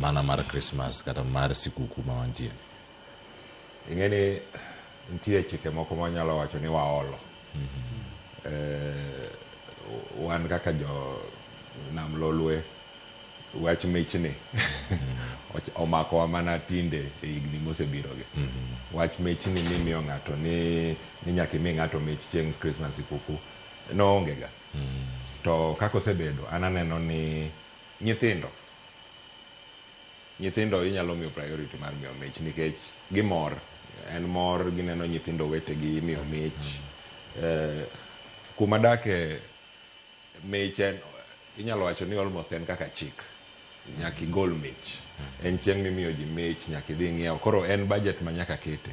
mana mar Christmas kata mar sikuku ma wantie. Ing'e ni nitie chike moko ma wanyalo wacho ni waolo. Mm -hmm. eh, wan kaka jo nam lolwe wach mich ni omako wa mana tinde e higni mosebiro gi mm -hmm. wach mich ni ni miyo ng'ato ni ni nyaka imi ng'ato mich chieng' Christmas sikuku noonge ga mm -hmm. to kaka osebedo an aneno ni nyithindo Nyithindo inyalo miyo priority mar miyo mich nikech gimor, en mor gineno nyithindo wetegi imiyo mich. Eh, kuma adake mich en inyalo wacho ni almost en kaka chik. Nyaka igol mich. En chieng' mimiyo ji mich, nyaka idhi ing'iew. Koro en budget ma nyaka kete.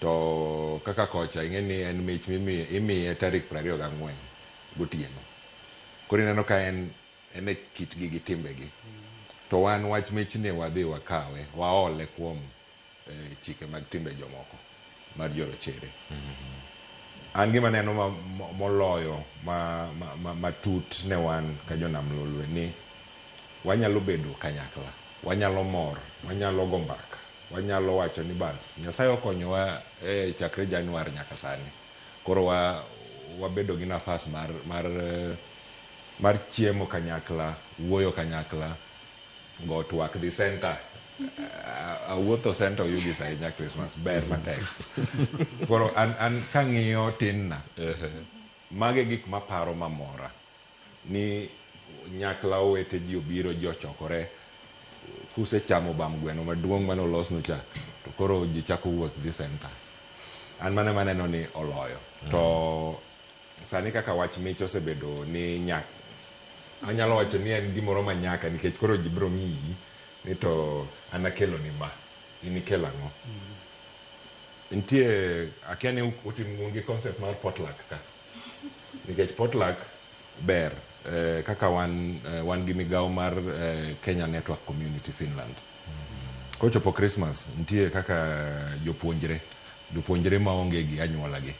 To kaka kocha ing'e ni en mich mimiye imiye tarik prariyo gang'wen gotieno. Koro ineno ka en En e kitgi gi timbegi. To wan wach michni wadhi wakawe waole kuom chike mag timbe jomoko mar jorochere. An gima aneno moloyo matut ne wan ka jo nam lolwe ni wanyalo bedo kanyakla, wanyalo mor, wanyalo go mbaka, wanyalo wacho ni bas Nyasaye okonyowa chakre Januar nyaka sani koro wabedo gi nafas mar mar chiemo kanyakla, wuoyo kanyakla, go twak dhi center. A- Awuotho center oyugi sa ahinya Christmas, ber matek. Koro an, an kang'iyo tinna, mage gik maparo mamora ni nyakla owete ji obiro ji ochokore kusechamo bam gweno maduong' mane olosnu cha to koro ji chako wuoth dhi center an mane maneno ni oloyo to Sani kaka wach mich osebedo ni nyak, anyalo wacho ni en gimoro ma nyaka nikech koro ji biro ng'iyi ni to an akeloni ma, in ikel ang'o. Nitie, akia ni utim un gi concept mar potluck ka. Nikech potluck ber kaka wan, wan gi migawo mar Kenya Network Community Finland. Kochopo Christmas nitie kaka jopuonjre, jopuonjre ma onge gi anyuolagi.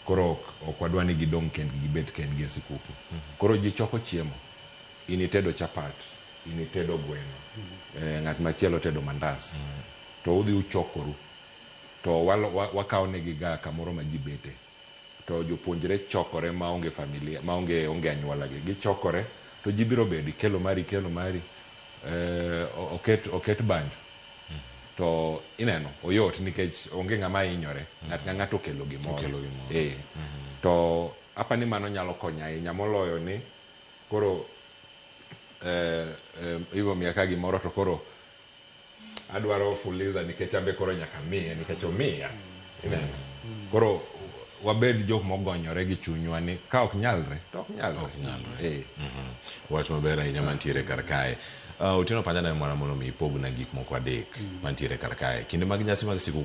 Koro ok ok wadwa ni gidong' kendgi gibet kendgi e sikuku. Koro ji choko chiemo. In itedo chapat, in itedo gweno, eh, ng'at machielo tedo mandas. To udhi uchokoru. To walo- wa- wakawo negi ga kamoro ma ji bete. To jopuonjre chokore maonge familia, maonge onge anyuolagi. Gichokore to ji biro bedo, ikelo mari, ikelo mari. eh, oket, oket banjo to ineno oyot nikech onge ng'ama hinyore ng'at ka ng'ato okelo gimoro Okelo gimoro. Eh. to apa ni mano nyalo konyo ahinya moloyo ni koro eh, eh, ibo miya ka gimoro to koro Adwaro fuliza nikech ambe koro nyaka miye nikech omiya. Ineno? Koro wabed jok mogonyore gi chunywa ni ka ok nyalre to ok nyalre. Ok nyalre. Eh. Mhm. Wach maber ahinya mantiere kar kae. Uh, Otieno Panyana mwana mondo mi ipogna gik moko adek mantiere kar kae. Kinde mag nyasi mag sikuku